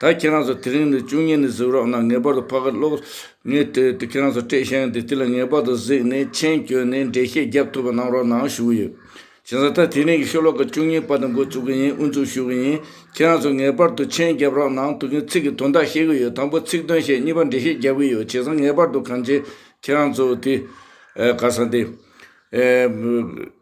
ད་ཁྱེད་རང་ཚོ་དེ་རིང་ནས་བཅུ་གཉིས་ནས་གཟིགས་རོགས་གནང་ངེས་པར་དུ་ཕ་གི་ཀློག་ངེས་བལྟོས་ཏེ་ཁྱེད་རང་ཚོ་སྤྲེལ་ཤང་དེ་དེ་ལ་ངེས་པར་དུ་གཟིགས་ནས་མཆན་བཀྱོན་ནས་འགྲེལ་བཤད་རྒྱབ་ཐུབ་པ་གནང་རོགས་གནང་ཞུ་གི་ཡོད། གཞན་ས་ཐག་དེ་རིང་གི་ཤོ་ལོ་ཀ་བཅུ་གཉིས་པ་དང་འགོ་བཙུགས་གི་ཡིན་དབུ་འཛུགས་ཞུ་གི་ཡིན་ཁྱེད་རང་ཚོ་ངེས་པར་དུ་མཆན་རྒྱབ་རོགས་གནང་དུ་གི་ཚིག་གི་དོན་དག་ཤེས་གི་ཡོད་དང་པོ་ཚིག་དོན་ཤེས་གཉིས་པ་འགྲེལ་བཤད་རྒྱབ་གི་ཡོད་བྱས་ཙང་ངེས་པར་དུ་གང་བྱས་ཁྱེད་རང་ཚོ་དེ། ག་ས་དེ།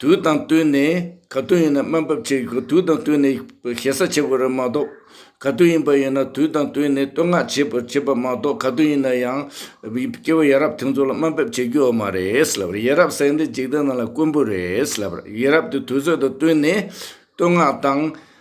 དུས་དང་བསྟུན་ནས་ག་དུས་ཡིན་ན་སྨན་ཕབ་བྱེད་དགོས་དུས་དང་བསྟུན་ནས་ཞེ་ས་བྱེད་དགོས་རེད་མ་གཏོགས་ག་དུས་ཡིན་པ་ཡིན་ན་དུས་དང་བསྟུན་ནས་བསྟོད་བསྔགས་བྱེད་པ་བྱེད་པ་མ་གཏོགས་ག་དུས་ཡིན་ན་ཡང་སྐྱེ་བོ་ཡ་རབས་དེ་ཚོ་ལ་སྨན་ཕབ་བྱེད་རྒྱུ་འོ་མ་རེད་ལབ་རེད་ཡ་རབས་ཟེར་འདི་འཇིག་རྟེན་ནང་ལ་དཀོན་པོ་རེད་ལབ་རེད་ཡ་རབས་དེ་དུས་ཚོད་དང་བསྟུན་ནས་བསྟོད་བསྔགས་དང།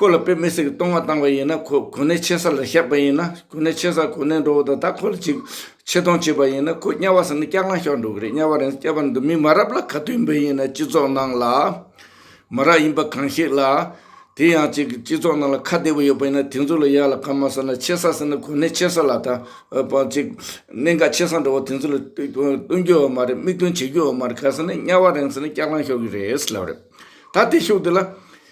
ཁོ་ལ་པེ་མེ་སི་ཀི་བཏུང་བ་བཏང་བ་ཡིན་ན་ཁོ་གོ་གནས་ཆེ་ས་ལ་བཞག་པ་ཡིན་ན་གོ་གནས་ཆེ་སར་གོ་གནས་འགྲོ་བ་དང་ད་ཁོ་ལ་ཅིག་ཆེ་མཐོང་བྱེད་པ་ཡིན་ན་ཁོ་དམྱལ་བ་ཟེར་ན་སྐྱག་ལངས་ཤོར་འགྲོ་གི་རེད་དམྱལ་བ་རེད་སྐྱག་པ་འདི་མི་མ་རབས་ལ་ག་དུས་འབེན་ཡིན་ན་སྤྱི་ཚོགས་ནང་ལ་མ་རབས་ཡིན་པ་གང་ཞིག་ལ་དེ་ཡང་ཅིག་སྤྱི་ཚོགས་ནང་ལ་ཁ་བདེ་བོ་ཡོད་པ་ཡིན་ན་དེ་ཚོ་ལ་ཡག་ལ་གང་མ་ཟེར་ན་ཆེ་ས་ཟེར་ན་གོ་གནས་ཆེ་ས་ལ་ད་བར་ཅིག་གནས་འགའ་ཆེ་ས་འགྲོ་བ་དེ་ཚོ་ལ་བཏུང་རྒྱུ་ཡོད་མ་རེད་མིག་སྟོན་བྱེད་རྒྱུ་ཡོད་མ་རེད་ག་ཟེར་ན་དམྱལ་བ་རེད་ཟེར་ན་སྐྱག་ལངས་ཤོར་གི་རེད་ལབ་རེད་ད་དེ་ཤུགས་དེ་ལ་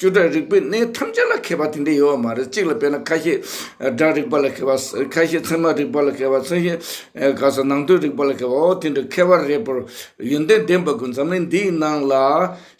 བཅུ་སྒྲ་རིག་པའི་གནས་ཐམས་ཅད་ལ་མཁས་པ་དེ་འདྲས་ཡོད་པ་མ་རེད་གཅིག་ལ་དཔེར་ན་ཁ་ཤས་སྒྲ་རིག་པ་ལ་མཁས་པ་ཁ་ཤས་ཚད་མ་རིག་པ་ལ་མཁས་པ་ཚད་ཤས་ག་ས་ནང་དོན་རིག་པ་ལ་མཁས་པ་འོ་དེ་འདྲ་མཁས་པ་རེད་པོ་ཡོན་ཏན་ལྡན་པ་དགོས་འཛམ་གླིང་འདིའི་ནང་ལ་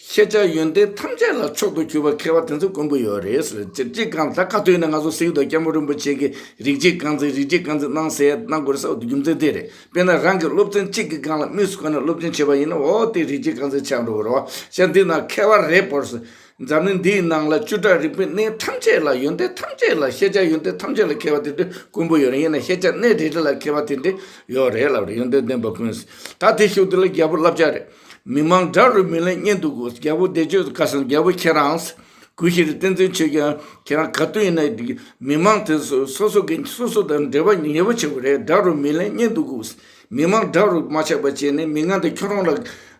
ཤེས་བྱ་ཡོན་ཏན་ཐམས་ཅད་ལ་མཆོག་ཏུ་གྱུར་པ་མཁས་པ་དེ་ཚོ་དཀོན་པོ་ཡོད་རེད་ཟེར་ཅེས་ཅི་གང་ད་ཁ་ཐོན་ནས་ང་ཚོ་སིག་རྡོ་སྐྱབས་མགོན་རིན་པོ་ཆེ་གིས་རིག་བྱེད་རྐང་འཛིན་རིག་བྱེད་རྐང་འཛིན་གནང་ཟེར་གནང་དགོས་རེད་ས་རྒྱུ་མཚན་དེ་རེད། དཔེར་ན་རང་གི་སློབ་ཚན་གཅིག་གི་སྒང་ལ་དམིགས་སུ་བཀར་ནས་སློབ་ཆེན་བྱེད་པ་ཡིན་ན་འོ་དེ་རིགས་ཀྱི་རྐང་འཛིན་ཆགས་འགྲོ་གི་རོ། བྱ་འདི་ན་ཁེལ་བ་རེད་བོར་སྲིད། འཛམ་གླིང་འདིའི་ནང་ལ་བཅུ་ཕྲག་རིག་པའི་གནས་ཐམས་ཅད་ལ་ཡོན་ཏན་ཐམས་ཅད་ལ་ཤེས་བྱ་ཡོན་ཏན་ཐམས་ཅད་ལ་ཁེལ་བ་དེ་འདྲའི་དཀོན་པོ་ཡོད་རེད་ཡིན་ན་ཤེས་བྱ་གནས་རེ་རེ་ལ་ཁེལ་བ་དེ་འདྲའི་ཡོད་རེད་ལབ་རེད་ཡོན་ཏན་ལྡན་པ་ཀུན་སྲིད་ད་དེ་ཤུགས་དེ་ལ་རྒྱལ་པོ་བསླབ་བྱ་རེད། མི་མང་དགྲ་རུ་མི་ལེན་གཉེན་དུ་དགོས་རྒྱལ་པོ་བདེ་སྤྱོད་དུ་དཀའ་སེམས་རྒྱལ་པོ་ཁྱེད་རང་སྲིད། གུས་ཞེས་རིགས་བསྟན་འཛིན་བྱས་ཀྱང་ཁྱེད་རང་ག་དུས་ཡིན་ན་མི་མང་དེ་ཚོ་སོ་སོ་གི་སོ་སོ་དང་འབྲེལ་བ་ཉེ་བོ་ཆེ་བ་རེད་དགྲ་རུ་མི་ལེན་རྙེད་འདུག་གུས་མི་མང་དགྲ་རུ་མ་ཆགས་པ་བྱས་ནས་མི་ངན་དེ་ཁྱོད་རང་ལ་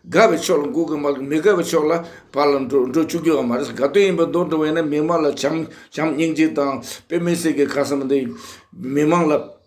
དགའ་བའི་ཕྱོགས་ལ་འགུག་གི་མ་གི་མི་དགའ་བའི་ཕྱོགས་ལ་བར་ལ་འགྲོ་འགྲོ་བཅུག་རྒྱུ་ཡང་མ་རེད་ག་དུས་ཡིན་པ་རྡོག་རྡོག་ཡིན་ན་མི་མང་ལ་བྱམས་བྱམས་སྙིང་རྗེ་དང་དཔེ་མི་སྲིད་ཀྱི་ཁ་སང་དེ་མི་མང་ལ།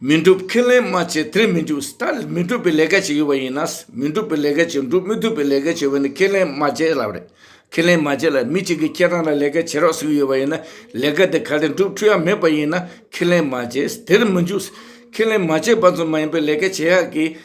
མི་འགྲུབ་ཁས་ལེན་མ་བྱས་དེར་མི་འགྲུབ་ས་ད་མི་འགྲུབ་པའི་ལས་ཀ་བྱེད་ཀྱི་བ་ཡིན་ན་མི་འགྲུབ་པའི་ལས་ཀ་བྱེད་འགྲུབ་མི་ཐུབ་པའི་ལས་ཀ་བྱེད་བ་ནི་ཁས་ལེན་མ་བྱས་ལབ་རེད་ཁས་ལེན་མ་བྱས་ལ་མི་གཅིག་གིས་ཁྱེད་རང་ལ་ལས་ཀ་བྱེད་རོགས་ཟེར་གྱི་ཡོད་བ་ཡིན་ན་ལས་ཀ་དེ་ག་ལེ་འགྲུབ་འཁྲུལ་ཡག་མེད་པ་ཡིན་ན་ཁས་ལེན་མ་བྱས་དེར་མི་འཇུག་ཁས་ལེན་མ་བྱས་པ་ཙམ་མ་ཡིན་པའི་ལས་ཀ་བྱེད་ཡག་གི།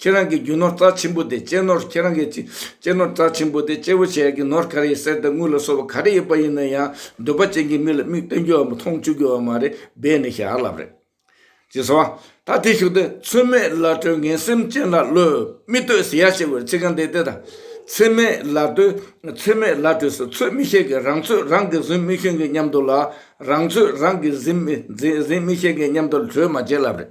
ཁྱེད་རང་གི་རྒྱུ་ནོར་རྩ་ཆེན་པོ་དེ་གཅེས་ནོར་ཁྱེད་རང་གི་གཅེས་ནོར་རྩ་ཆེན་པོ་དེ་གཅེས་པོ་བྱེད་ཀྱི་ནོར་ག་རེ་ཡིན་གསེར་དང་དངུལ་ལ་སོགས་པ་ག་རེ་ཡོད་པ་ཡིན་ན་ཡང་འདོད་པ་ཅན་གྱི་མི་ལ་མིག་སྟོན་རྒྱུ་བ་མཐོང་བཅུག་རྒྱུ་བ་མ་རེད་སྦས་ནས་ཞག་བསླབ་རེད། ཅེས་སོ། ད་དེ་ཞིག་དང་ཚོད་མེད་བླ་སྤྲུལ་ངན་སེམས་ཅན་ལ་བློས་མི་གཏོད་ཟེར་ཡ་ཞེས་པའི་ཚིག་རྐང་འདི་དེ་དང། ཚོད་མེད་བླ་སྤྲུལ་ཚོད་མེད་བླ་སྤྲུལ་སུ་ཚོད་མི་ཤེས་གི་རང་ཚོད་རང་གིས་ཟིན་མི་ཤེས་གི་སྙམ་དུ་ལ་རང་ཚོད་རང་གིས་ཟིན་མི་ཤེས་གི་སྙམ་དུ་ལ་གྲོས་མ་བྱེད་བསླབ་རེད།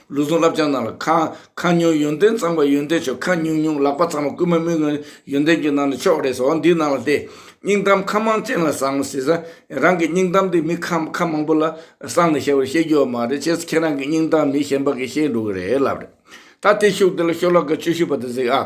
ལུས་ཟུངས་རླབས་ཆེན་རྣམས་ལ་ཁ་ཁ་ཉུང་ཡོན་ཏན་གཙང་པ་ཡོན་ཏན་ཆོ་ག་ཉུང་ཉུང་ལག་པ་ཚང་མ་རྐུན་མ་མི་དགོས་ཡོན་ཏན་གྱི་ནང་ནས་ཕྱོགས་རེས་འོག་འདི་ནང་ལ་བལྟས། སྙིང་གཏམ་ཁ་མང་ཅན་ལ་བཟང་ངོ་ཟེར་ས། རང་གི་སྙིང་གཏམ་དེ་མི་ཁ་ཁ་མང་པོ་ལ་གསང་ནས་ཞལ་བར་བཤད་རྒྱུ་བ་མ་རེད་ཁྱེད་ཚོ་ཁྱེད་རང་གི་སྙིང་གཏམ་མི་གཞན་པ་གིས་ཤེས་འགྲོ་གི་རེད་ལབ་རེད། ད་དེ་ཤུགས་དེ་ལ་ཤོ་ལག་གི་ཆུ་ཤུ་བ་དེ་ཟིག་ཨ།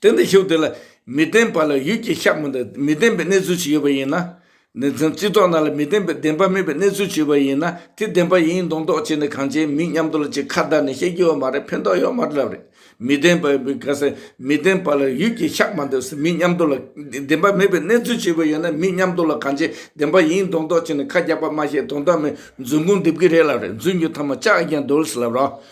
དེ་འདི་ཤོག་དེ་ལ་མི་བདེན་པ་ལ་ཡུལ་གྱི་ཤ་མི་འདྲ་མི་བདེན་པའི་གནས་ཚུལ་ཞིག་ཡོད་པ་ཡིན་ན། ནི་བདེན་རྩི་དོག་ན་ལ་མི་བདེན་པའི་བདེན་པ་མེད་པའི་གནས་ཚུལ་ཞིག་ཡོད་པ་ཡིན་ན་དེ་བདེན་པ་ཡིན་མདོག་མདོག་བྱས་ནས་གང་བྱས་མིན་སྙམ་དུ་ལ་ཅིག་ཁ་བརྡ་ནས་བཤད་ཀྱི་ཡོད་མ་རེད་ཕན་ཐོག་ཡོད་མ་རེད་མི་བདེན་པའི་བུ་ག་ས་མི་བདེན་པ་ལ་ཡུལ་གྱི་ཤ་མ་འདྲ་མིན་སྙམ་དུ་ལ་བདེན་པ་མེད་པའི་གནས་ཚུལ་ཞིག་ཡོད་པ་ཡིན་ན་མིན་སྙམ་དུ་ལ་གང་བྱས་བདེན་པ་ཡིན་མདོག་མདོག་བྱས་ནས་ཁ་རྒྱག་པ་མ་བཤད་དོན་དག་མེད་རྫུན་ཁུངས་འདེབས་ཀྱི་རེད་ལབ་རེད་རྫུན་གྱི་ཐ་མ་ཅག་ཀྱང་འདོད་སླ་རོགས།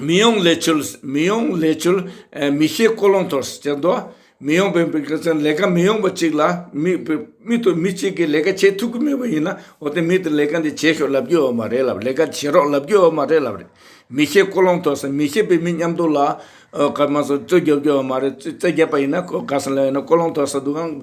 མི་ཡོང་ལས་ཆོལ་མི་ཡོང་ལས་ཆོལ་མི་ཤེས་ཀོ་ལོང་ཐོར་ཟེར་དོ། མི་ཡོང་པའི་མི་ག་ཚོན་ལས་ཀ་མི་ཡོང་པ་ཅིག་ལ་མི་མི་དོ་མི་ཅིག་གིས་ལས་ཀ་བྱེད་ཐུབ་ཀི་མེད་པ་ཡིན་ན་འོ་དེ་མི་དེ་ལས་ཀ་འདི་བྱེད་ཤོག་ལབ་རྒྱུ་ཡོད་མ་རེད་ལབ་ལས་ཀ་བྱེད་རོགས་ལབ་རྒྱུ་ཡོད་མ་རེད་ལབ་རེད། མི་ཤེས་ཀོ་ལོང་ཐོར་ཟེར་མི་ཤེས་པའི་མི་མཉམ་དུ་ལ་ཨོ་ཀ་མ་ཟོ་རྩོད་རྒྱབ་རྒྱུ་ཡོད་མ་རེད་རྩོད་རྒྱབ་པ་ཡིན་ན་ག་ཚོན་ལ་ཡོད་ན་ཀོ་ལོང་ཐོར་ཟེར་འདུག་གམ་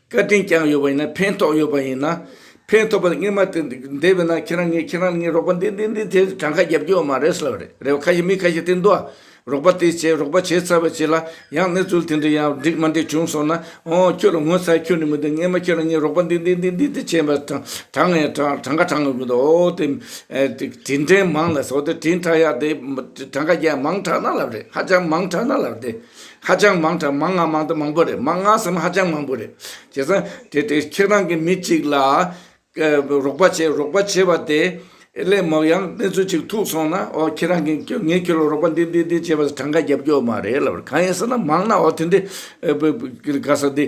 བཀའ་དྲིན་བསྐྱངས་ཡོད་པ་ཡིན་ན་ཕན་ཐོགས་ཡོད་པ་ཡིན་ན་ཕན་ཐོགས་པ་གཉེར་མ་ཐུབ་བསྡད་པས་ན་ཁྱེད་རང་ངས་ཁྱེད་རང་ལ་ངས་རོགས་པ་འདི་འདི་འདི་དེ་གྲངས་ཁ་བརྒྱབ་རྒྱུ་བ་མ་རེད་ཟེར་བ་རེད་རེད་བ་ཁ་ཞིག་མི་ཁ་ཞིག་དེ་འདུག་ཨ། རོགས་པ་དེ་བྱས་རོགས་པ་བྱས་ཚར་བ་བྱས་ལ་ཡང་གནས་ཚུལ་དེ་འདྲ་ཡང་འགྲིག་མ་འགྲིག་བྱུང་སོང་ན་ཨོ་ཁྱོད་ལ་ངོ་ཚ་ཡས་ཁྱོད་ནི་མི་འདུག་ངས་མ་ཁྱེད་རང་ངས་རོགས་པ་འདི་འདི་འདི་འདི་འདི་བྱས་པ་གྲངས་ངས་གྲངས་ཁ་གྲངས་ཡོང་གི་འདུག་ཨོ་དེ་དྲིན་དྲན་མང་ལ་ཟོ་དེ་དྲིན་དྲག་ཡག་དེ་གྲངས་ཁ་རྒྱ་མང་དྲག་ན་ལབ་རེད་ཧ་ཅང་མང་དྲག་ན་ལབ་དེ། ཧ་ཅང་མང་དྲགས་མང་ང་མང་དུ་མང་པོ་རེད་མང་ང་ཟེར་མ་ཧ་ཅང་མང་པོ་རེད་བྱས་ཙང་དེ་དེ་ཁྱེད་རང་གི་མི་གཅིག་ལ་རོགས་པ་བྱས་རོགས་པ་བྱས་པ་དེ་སླད་མོག་ཡང་གནས་ཚུལ་གཅིག་ཐུག་སོང་ན་ཨོ་ཁྱེད་རང་གིས་ངས་ཁྱོད་ལ་རོགས་པ་འདི་འདི་འདི་བྱས་པ་ཟེར་གྲངས་ཀ་རྒྱབ་རྒྱོག་མ་རེད་ལབ་གང་ཡིན་ཟེར་ན་མང་ན་ཨོ་དེ་འདི་ག་ས་འདི་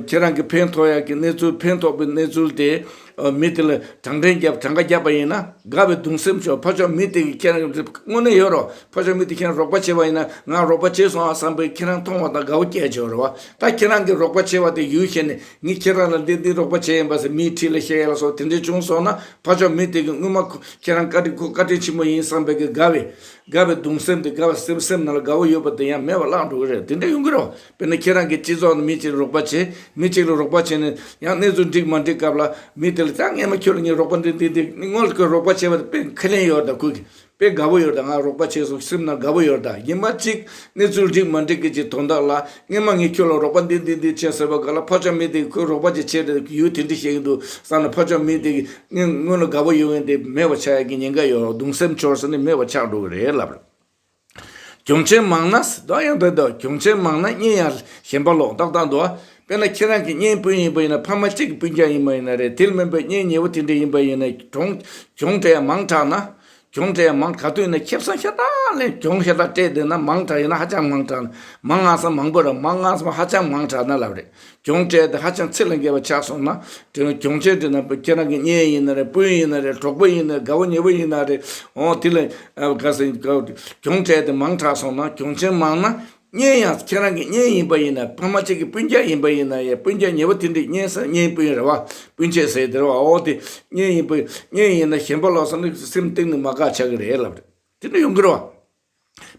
ཁྱེད་རང་གི་ཕན་ཐོགས་ཡག་གི་གནས་ཚུལ་ཕན་ཐོགས་པའི་གནས་ཚུལ་དེ། མི་དེ་ལ་བགྲང་ཕྲེང་བརྒྱབ་བགྲང་ཁ་བརྒྱབ་པ་ཡིན་ན་དགའ་བའི་གདུང་སེམས་ཤོར་ཕོ་ཆོག་མི་དེ་གིས་ཁྱེད་རང་དངོས་གནས་ཡོད་རོགས་ཕོ་ཆོག་མི་དེ་ཁྱེད་རང་རོགས་པ་བྱེད་པ་ཡིན་ན་ང་རོགས་པ་བྱས་སོང་ཨ་བསམ་པའི་ཁྱེད་རང་མཐོང་བ་དང་དགའ་བོ་སྐྱེས་བྱུང་རེད་བ་ད་ཁྱེད་རང་གིས་རོགས་པ་བྱས་པ་དེ་ཡུལ་ཤེས་ནས་ངས་ཁྱེད་རང་ལ་འདི་འདི་རོགས་པ་བྱས་ཡིན་པ་ཟེར་མིའི་འཁྲིས་ལ་བཤད་ཡ་ལ་སོགས་དེ་འདྲས་བྱུང་སོང་ན་ཕོ་ཆོག་མི་དེ་གིས་སྔོན་མ་ཁྱེད་རང་བཀའ་དྲིན་ཁོ་བཀའ་དྲིན་ཆེན་པོ་ཡིན་བསམ་པའི་གི་དགའ་བའི་དགའ་བའི་གདུང་སེམས་དེ་དགའ་བའི་སེམས་སེམས་ནང་ལ་དགའ་བོ་ཡོད་པ་དེ་ཡང་མེད་པ་བརླག་འགྲོ་གི་རེད་དེ་འདྲས་ཡོང་གི་རོགས་དཔེར་ན་ཁྱེད་རང་གི་སྤྱི་ཚོགས་ནང་མི་གཅིག་ལ་རོགས་པ་བྱས། མི་གཅིག་ལ་རོགས་པ་བྱས་ནས་ཡང་གནས་ཚུལ་འགྲིག་མ་འགྲིག་སྐབས་ལ་མི་དེ་ལ་ད་ངས་མ་ཁྱོད་ལ་ངས་རོགས་པ་འདི་འདི་འདི་སྔོན་ལ་ཁོས་རོགས་པ་བྱས་པ་དེ་དཔེ་ཁས་ལེན་ཡོད་ད་ཁོས་དཔེ་དགའ་བོ་ཡོད་ད་ང་རོགས་པ་བྱས་སོང་སེམས་ནང་དགའ་བོ་ཡོད་ད་ཡིན་པ་གཅིག་གནས་ཚུལ་འགྲིག་མ་འགྲིག་གི་གཅིག་དོན་དག་ལ་སྔས་མ་ངས་ཁྱོད་ལ་རོགས་པ་འདི་འདི་འདི་བྱས་ཟེར་བ་ག་ལ་ཕ་ཆོག་མི་དེ་ཁོས་རོགས་པ་ཅིག་བྱས་ཏེ་ཡུལ་དེ་འདི་བྱས་ཀྱི་འདུག་བསམ་ན་ཕ་ཆོག་མི་དེ་སྔོན་ལ་དགའ་བོ་ཡོད་ངེས་དེ་མེད་པ་ཆགས་ཡག་གི་ཉེན་ཁ་ཡོད་གདུང་སེམས་འཆོར་ས་ནི་མེད་པ་ཆགས་འགྲོ་གི་རེད་ལབ། གྱོང་ཆེན་མང་ན་སྲིད་དོན་ཡང་དེ་དང་གྱོང་ཆེན་མང་ན་བརྙན་ཡང་གཞན་པ་ལོག་ལྟ་དང་འདུག་དཔེར་ན་ཁྱེད་རང་གི་བརྙན་སྤུན་ཡིན་པ་ཡིན་ན་ཕ་མ་གཅིག་གི་སྤུན་ཀྱང་ཡིན་མ་ཡིན་ན་རེད་དེ་སྨན་པའི་བརྙན་ཉེ་བོ་དེ་འདྲའི་ཡིན་པ་ཡིན་ན་གྱོང་གྱོང་དེ་ཡང་མང་དྲགས་ན་གྱོང་དེ་ཡང་མང་ག་དུས་ན་ཁྱིམ་ཚང་ཤ་སྟག་ལས་གྱོང་ཤ་སྟག་སྤྲད་འདོད་ན་མང་དྲགས་ཡོད་ན་ཧ་ཅང་མང་དྲགས་ན་མང་ང་སང་མང་པོ་ར་མང་ང་སང་ཧ་ཅང་མང་དྲགས་ན་ལབ་རེད། གྱོང་ཁྲལ་དེ་ཧ་ཅང་ཚད་ལས་འགལ་བ་ཆགས་སོང་ན། དེ་ནི་གྱོང་ཁྲལ་དེ་ནང་པའི་ཁྱེད་རང་གི་གཉེན་ཡིན་ན་རེད་སྤུན་ཡིན་ན་རེད་གྲོགས་པོ་ཡིན་ན་རེད་དགའ་བོ་ཉེ་བོ་ཡིན་ན་རེད། འོང་དེ་ལས་འགལ་ཟིན་གྱོང་ཁྲལ་དེ་མང་དྲགས་སོང་ན་གྱོང་ཆེན་མང་ན། གཉེན་ཡང་ཁྱེད་རང་གི་གཉེན་ཡིན་པ་ཡིན་ན་ཕ་མ་གཅིག་གི་སྤུན་རྒྱག་ཡིན་པ་ཡིན་ན་ཡ་སྤུན་རྒྱག་ཉེ་བོ་དེ་འདྲའི་གཉེན་སེམས་གཉེན་སྤུན་རེད་བ་སྤུན་མཆེད་ཟེར་དེ་རེད་བ་འོང་དེ་གཉེན་ཡིན་པ་གཉེན་ཡིན་ན་ཞེན་པ་ལོག་སོང་ན་སེམས་གཏིང་ནས་མ་དགའ་ཆགས་གི་རེད་ལབ་རེད་དེ་འདྲ་ཡོང་གི་རེད་བ།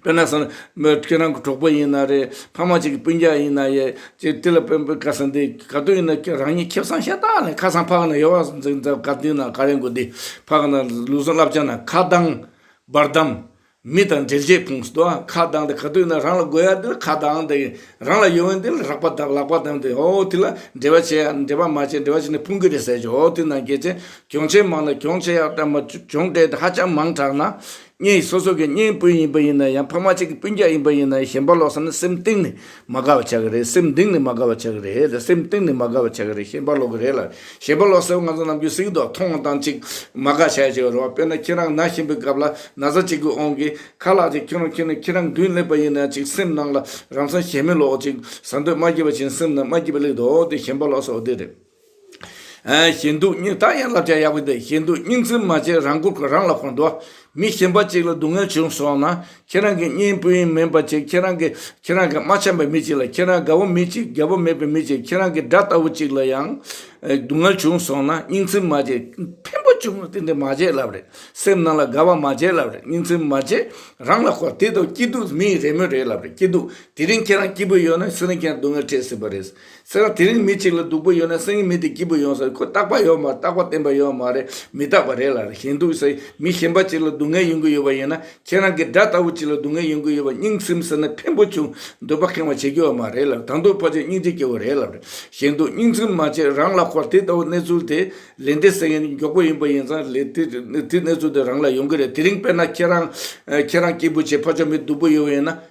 དཔེར་ན་སོན། མོས་ཁྱེད་རང་གི་གྲོགས་པོ་ཡིན་ན་རེད། ཕ་མ་གཅིག་གི་སྤུན་རྒྱག་ཡིན་ན་ཡེད། ཅེས་དེ་ལ་དཔོན་པོས་བཀའ་ཟེར་འདི་ག་དུས་ཡིན་ན་ཁྱོད་རང་ཉིད་ཁེབ་བཟང་ཤ་སྟག་ནས་ཁ་སང་ཕག་ན་ཡོལ་བ་ཟིག་འཛིན་ཚར་ག་དུས་ན་ག་རེ་མགོ་བདེ། ཕག་ན་ལུས་ཟུངས་རླབས་ཆེ་ན་ཁ་གདང། བར་དམ། མི་དང་འབྲེལ་བྱེད་ཁུངས་སུ་དོ། ཁ་གདང་དེ་ག་དུས་ན་རང་ལ་དགོས་ཡ་དེ་ལ་ཁ་གདང་དེ། རང་ལ་ཡོད་འོན་དེ་ལ་རག་པ་དང་ལག་པ་དང་དེ་ཨོ་དེ་ལ་འབྲེལ་བ་བྱེད་ཡ་འབྲེལ་བ་མ་བྱེད་འབྲེལ་བ་བྱེད་ན་ཕུང་ཁུ་རེད་ཟེར་ཞོར་ཨོ་དུས་ན་གལ་ཆེན་གྱོང་ཆེན་མང་ན་གྱོང་ཆེ་ཡག་དྲགས་མ་གྱོང་གལ་དེ་ཧ་ཅང་མང་དྲགས་ན། གཉེན་ཡིན་སོ་སོ་གི་གཉེན་སྤུན་ཡིན་པ་ཡིན་ན་ཡང་ཕ་མ་གཅིག་གི་སྤུན་རྒྱག་ཡིན་པ་ཡིན་ན་ཡང་གཞན་པ་ལོག་ས་ནི་སེམས་གཏིང་ནས་མ་དགའ་བ་ཆགས་ཀྱི་རེད་སེམས་གདིང་ནས་མ་དགའ་བ་ཆགས་ཀྱི་རེད་ལ་སེམས་གཏིང་ནས་མ་དགའ་བ་ཆགས་ཀྱི་རེད་གཞན་པ་ལོག་གི་རེད་ལ་གཞན་པ་ལོག་ས་བོ་ང་ཚོ་ནམ་རྒྱུན་གཟིགས་མདོག་མཐོང་བ་དང་ཅིག་མ་དགའ་བྱ་ཡ་བྱེད་པ་རེད་བ་དཔེར་ན་ཁྱེད་རང་ན་བཞིན་པའི་སྐབས་ལ་ན་བཟའ་གཅིག་གི་ཨོང་གིས་ཁ་ལག་ཅིག་ཁེངས་རོགས་ཁྱེད་ནི་ཁྱེད་རང་མདུན་སླེབས་པ་ཡིན་ན་ཅིག་སེམས་ནང་ལ་རང་ས་གཞན་མི་ལོག་ཅིག་ཟ་འདོད་མ་སྐྱེས་པ་བཞིན་སེམས་ནང་མ་སྐྱིད་པ་ལེགས་འདོད་དེ་གཞན་པ་ལོག་ས་བོ་དེ་རེད། ཞེ་འདུག་སྙིང་ད་ཡང་བསླབ་བྱ་ཡག་པོ་འདུག་ཞེ་འདུག་སྙིང་བཙུན་མ་བྱས་རང་མགོ་རང་ལ་འཁོར་འདུག་མི་གཞན་པ་གཅིག་ལ་སྡུག་བསྔལ་བྱུང་སོང་ན་ཁྱེད་རང་གི་གཉེན་སྤུན་ཡིན་མིན་པ་ཆེ་ཁྱེད་རང་གི་ཁྱེད་རང་གི་མ་འཆམ་པའི་མི་གཅིག་ལ་ཁྱེད་རང་དགའ་བོ་མི་གཅིག་དགའ་བོ་མེད་པའི་མི་གཅིག་ཁྱེད་རང་གི་དགྲ་ལྟ་བུ་གཅིག་ལ་ཡང་སྡུག་བསྔལ་བྱུང་སོང་ན་སྙིང་བཙུན་མ་བྱས་ཕན་པོ་བྱུང་ན་དེ་འདྲ་མ་བྱས་ལབ་རེད་སེམས་ནང་ལ་དགའ་བ་མ་བྱས་ལབ་རེད་སྙིང་བཙུན་མ་བྱས་རང་ལ་འཁོར་དེ་དང་སྐྱིད་སྡུག་མི་རེ་མོས་རེད་ལབ་རེད་སྐྱིད་སྡུག་དེ་རིང་ཁྱེད་རང་སྐྱིད་པོ་ཡོད་ན་སུ་རིང་ཁྱེད་རང་སྡུག་བསྔལ་འཕྲད་སྲིད་པ་རེད། སེམས་ལ་དེ་རིང་མི་གཅིག་ལ་སྡུག་པོ་ཡོད་ན་སེང་གེ་མི་དེ་སྐྱིད་པོ་ཡོང་ས་རེད་ཁོས་རྟག་པ་ཡོད་མ་རྟག་པ་བསྟན་པ་ཡོད་མ་རེད་མི་རྟག་པ་རེད་ལ་ཞེན་འདུག་ས་མི་གཞན་པ་གཅིག་ལ་སྡུག་བསྔལ་ཡོང་གི་ཡོད་པ་ཡིན་ན་ཁྱེད་རང་གི་དགྲ་ལྟ་བུ་གཅིག་ལ་སྡུག་བསྔལ་ཡོང་གི་ཡོད་པ་སྙིང་སེམས་ཟེར་ན་ཕན་པོ་བྱུང་འདོད་པ་ཁེངས་བ་བྱེད་ཀྱི་ཡོད་མ་རེད་ལ་དང་དུ་ཕ་ཆེ་སྙིང་རྗེ་སྐྱེ་བོ་རེད་ལབ་རེད་ཞེན་འདུག་སྙིང་ཚིམ་མ་བྱེད་རང་ལ་ཁོར་དེ་ལྟ་བུ་གནས་ཚུལ་དེ་ལས་འདས་ས་ཡིན་མགྱོགས་པོ་ཡིན་པ་ཡིན་ཙང་ལས་དེ་གནས་ཚུལ་དེ་རང་ལ་ཡོང་གི་རེད་དེ་རིང་དཔེར་ན་ཁྱེད་རང་ཁྱེད་རང་སྐྱིད་པོ་བྱེད་ཕ་ཆོ་མི་སྡུག་པོ་ཡོད་པ་ཡིན་ན།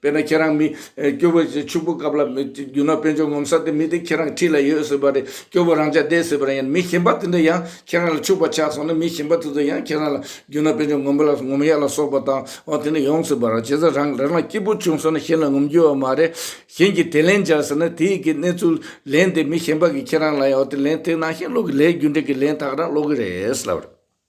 དཔེར་ན་ཁྱེད་རང་མི་སྐྱོ་བོ་ཞིག་ཕྱུག་པོ་སྐབས་ལ་རྒྱུ་ན་དཔོན་ཆུང་ངོམ་ས་དེ་མི་དེ་ཁྱེད་རང་འཁྲིས་ལ་ཡོད་ཟེར་བ་རེད་སྐྱོ་བོ་རང་ཅག་བསྡད་ཟེར་བ་རེད་ཡང་ན་མི་གཞན་པ་དེ་འདྲ་ཡང་ཁྱེད་རང་ལ་ཕྱུག་པ་ཆགས་སོང་ན་མི་གཞན་པ་དེ་ཚོ་ཡང་ཁྱེད་རང་ལ་རྒྱུ་ན་དཔོན་ཆུང་ངོམ་པ་ལ་ངོམ་ཡག་ལ་སོགས་པ་དང་འོ་དེ་འདྲ་ཡོང་ཟེར་བ་རེད་བྱས་ཙང་རང་རང་ལ་སྐྱིད་པོ་བྱུང་སོང་ན་གཞན་ལ་ངོམ་རྒྱུ་བ་མ་རེད་གཞན་གྱིས་དེ་ལན་བྱ་ཟེར་ན་དེ་ཡི་གེ་གནས་ཚུལ་ལན་དེ་མི་གཞན་པ་གིས་ཁྱེད་རང་ལ་ཡང་འོ་དེ་ལན་དེ་ནང་བཞིན་སློག་གི་ལས་རྒྱུ་འབྲས་ཀྱི་ལན་དག་རང་སློག་གི་རེད་ལབ་རེད།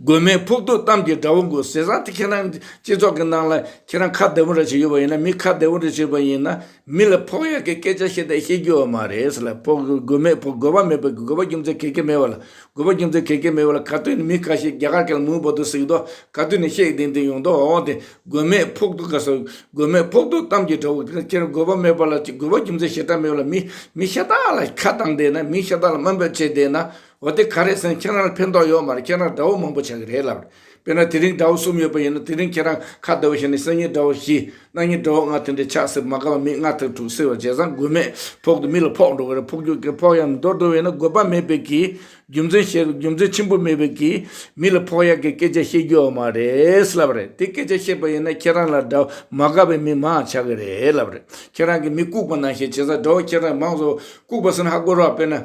དགོས་མེད་ཕུགས་རྡུག་གཏམ་གྱི་དགྲ་བོ་མགོ་སེར་ཟ་དེ་ཁྱེད་རང་སྤྱི་ཚོགས་ཀྱི་ནང་ལ་ཁྱེད་རང་ཁ་བདེ་བོ་རེ་ཞིག་ཡོད་པ་ཡིན་ན་མི་ཁ་བདེ་བོ་རེ་ཞིག་པ་ཡིན་ན་མི་ལ་ཕོག་ཡག་གི་སྐད་ཆ་བཤད་དེ་ཤེས་རྒྱུ་བ་མ་རེད་ཟེར་ལ་ཕོག་དགོས་མེད་ཕོག་དགོས་བ་མེད་པའི་དགོས་པ་རྒྱུ་མཚན་གེ་གེ་མེད་བ་ལ་དགོས་པ་རྒྱུ་མཚན་གེ་གེ་མེད་བ་ལ་ག་དུས་ནས་མི་ཁ་ཤས་རྒྱ་གར་གལ་མུན་བོ་དུ་གཟིགས་མདོག་ག་དུས་ནས་ཤེས་ལྡིང་ལྡིང་ཡོང་མདོག་འོང་དེ་དགོས་མེད་ཕུགས་རྡུག་ག་སོགས་དགོས་མེད་ཕུགས་རྡུག་གཏམ་གྱི་དགྲ་བོ་ཁྱེད་རང་དགོས་བ་མེད་བ་ལ་དགོས་བ་རྒྱུ་མཚན་ཤེས་སྟངས་མེད་བ་ལ་མི་མི་ཤ་སྟག་ལ་ཁ་བཏང་བསྡད་ན་མི་ཤ་སྟག་ལ་སྨོན་པ་བྱེད་བསྡད་ན་འོ་དེ་ག་རེད་སེང་ཁྱེད་རང་ལ་ཕན་ཐོག་ཡོད་མ་རེད་ཁྱེད་རང་དགྲ་བོ་མང་པོ་ཆགས་ཀྱི་རེད་ལབ། དཔེར་ན་དེ་རིང་དགྲ་བོ་གསུམ་ཡོད་པ་ཡིན་ན་དེ་རིང་ཁྱེད་རང་ཁ་བརྡ་བོ་བྱས་ནས་སང་ཉིན་དགྲ་བོ་བཞི། གནངས་ཉིན་དགྲ་བོ་ལྔ་ཐོན་དེ་ཆགས་སྲིད་པ་མ་དགའ་བ་མི་ལྔ་ཐོན་དྲུག་སྲིད་པ་བྱས་ཙང་དགོས་མེད་ཕོག་དུ་མི་ལ་ཕོག་འགྲོ་གི་རེད་ཕོག་རྒྱུ་གི་ཕོག་ཡག་མི་འདོར་འདོར་བས་ན་དགོས་པ་མེད་པས་ཀྱི། རྒྱུ་མཚན་བཤད་རྒྱུ་མཚན་ཆེན་པོ་མེད་པས་ཀྱི། མི་ལ་ཕོག་ཡག་གི་སྐད་ཆ་བཤད་རྒྱུ་ཡོད་མ་རེད་ལབ་རེད་དེ་སྐད་ཆ་བཤད་པ་ཡིན་ན་ཁྱེད་རང་ལ་དགྲ་བོ་མ་དགའ་བའི་མི་མང་ཆགས་ཀྱི་རེད་ལབ་རེད་ཁྱེད་རང་གི་མི་ལྐུགས་པ་ནང་བཤད་བྱས་ཙང་དགྲ་བོ་ཁྱེད་རང་མང་བཟོ་ལྐུགས་པ་ཟིན་ཧ་གོ་རོགས་དཔེར་ན།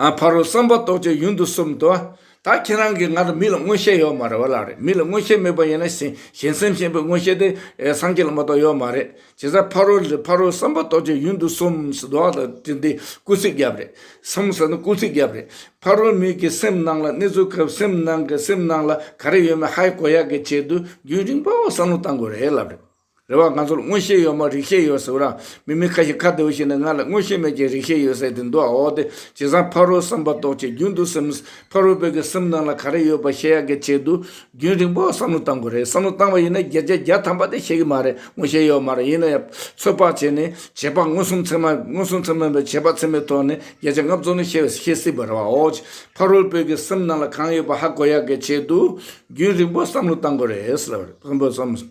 ཕ་རོལ་བསམ་པ་རྟོགས་བྱེད་ཡུན་དུ་གསུམ་དུ། ད་ཁྱེད་རང་གིས་ང་ལ་མི་ལ་མངོན་ཤེས་ཡོད་མ་རེད་བ་ལ་རེད་མི་ལ་མངོན་ཤེས་མེད་པ་ཡིན་ན་གཞན་སེམས་ཞེན་པའི་མངོན་ཤེས་དེ་སངས་རྒྱས་ལ་མ་གཏོགས་ཡོད་མ་རེད་བྱས་ཙང་ཕ་རོལ་ཕ་རོལ་བསམ་པ་རྟོགས་བྱེད་ཡུན་དུ་གསུམ་ཟེར་དོག་ལ་དེ་འདི་སྐུལ་ཚིག་རྒྱབ་རེད་སམ་ཟེར་ན་སྐུལ་ཚིག་རྒྱབ་རེད་ཕ་རོལ་མིག་གི་སེམས་ནང་ལ་གནས་ཚུལ་སྐབས་སེམས་ནང་གི་སེམས་ནང་ལ་ག་རེ་ཡོད་མེད་ཧའི་གོ་ཡ་གི་ཆེད་དུ་རྒྱུན་རིང་པོ་བསམ་བློ་བཏང་དགོས་རེད་ལབ་རེད། རེ་བ་ང་ཚོར་མངོན་ཤེས་ཡོད་མ་རིག་ཤེས་ཡོད་ཟེར་བ་རང་མི་མི་ཁ་ཞིག་ཁ་བདེ་བོ་ཞིག་ནས་ང་ལ་མངོན་ཤེས་མེད་ཀྱི་རིག་ཤེས་ཡོད་ཟེར་དེ་འདུག་ཨ་འོ་དེ་ཇི་བཟང་ཕ་རོལ་བསམ་པ་རྟོགས་བྱེད་རྒྱུན་དུ་སེམས། ཕ་རོལ་བོད་ཀྱི་སེམས་ནང་ལ་ག་རེ་ཡོད་པ་ཤེས་ཡག་གི་ཆེད་དུ། རྒྱུན་རིང་པོ་བསམ་བློ་བཏང་དགོས་རེད་བསམ་བློ་བཏང་བ་ཡིན་ན་བརྒྱད་བརྒྱ་བརྒྱ་ཐམ་པ་དེ་ཤེས་ཀྱི་མ་རེད་མངོན་ཤེས་ཡོད་མ་རེད་ཡིན་ན་ཡང་ཚོད་དཔག་བྱས་ནས་བྱས་པ་མངོན་སུམ་ཚད་མ་མངོན་སུམ་ཚད་མ་ཡིན་པའི་བྱས་པ་ཚད་མའི་ཐོག་ནས་བརྒྱད་ཆ་ལྔ་བཙུགས་ནས་ཤེས་ཤེས་སྲིད་པ་རེད་ཨ་འོ། ཕ་རོལ་བོད་ཀྱི་སེམས་ནང་ལ་གང་ཡོད་པ་ཧ་གོ་ཡག་གི་ཆེད་དུ། རྒྱུན་རིང་པོ་བསམ་བློ་བཏང་དགོས་རེད།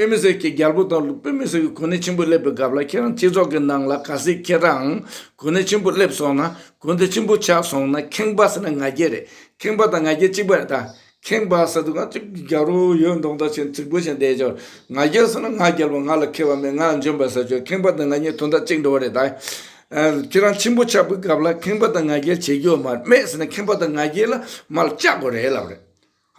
དཔེ་མི་སྲིད་ཀྱི་རྒྱལ་པོ་དང་དཔེ་མི་སྲིད་ཀྱི་གོ་གནས་ཆེན་པོ་སླེབས་པའི་སྐབས་ལ་ཁྱེད་རང་སྤྱི་ཚོགས་ཀྱི་ནང་ལ་ག་སྲིད་ཁྱེད་རང་གོ་གནས་ཆེན་པོ་སླེབས་སོང་ན་གོ་གནས་ཆེན་པོ་ཆགས་སོང་ན་ཁེངས་པ་ཟེར་ན་ང་རྒྱལ་རེད་ཁེངས་པ་དང་ང་རྒྱལ་གཅིག་པ་རེད་ད། ཁེངས་པ་ཟེར་དུས་ང་ཅིག་རྒྱ་རོ་ཡོད་མདོག་མདོག་བྱས་ཚིག་བུ་བཞིན་བསྡད་ཅོག་ང་རྒྱལ་ཟེར་ན་ང་རྒྱལ་བ་ང་ལ་ཁེ་བ་མེད་ང་འཇོན་པ་ཟེར་ཅོག་ཁེངས་པ་དང་ང་གཉིས་དོན་དག་གཅིག་འདྲ་བོ་རེད་ད། ཁྱེད་རང་ཆེན་པོ་ཆགས་པའི་སྐབས་ལ་ཁེངས་པ་དང་ང་རྒྱལ་བྱེད་རྒྱུ་མ་རེད་མེད་ཟེར་ན་ཁེངས་པ་དང་ང་རྒྱལ་ལ་མར་བཅག་དགོས་རེད་ལབ་རེད།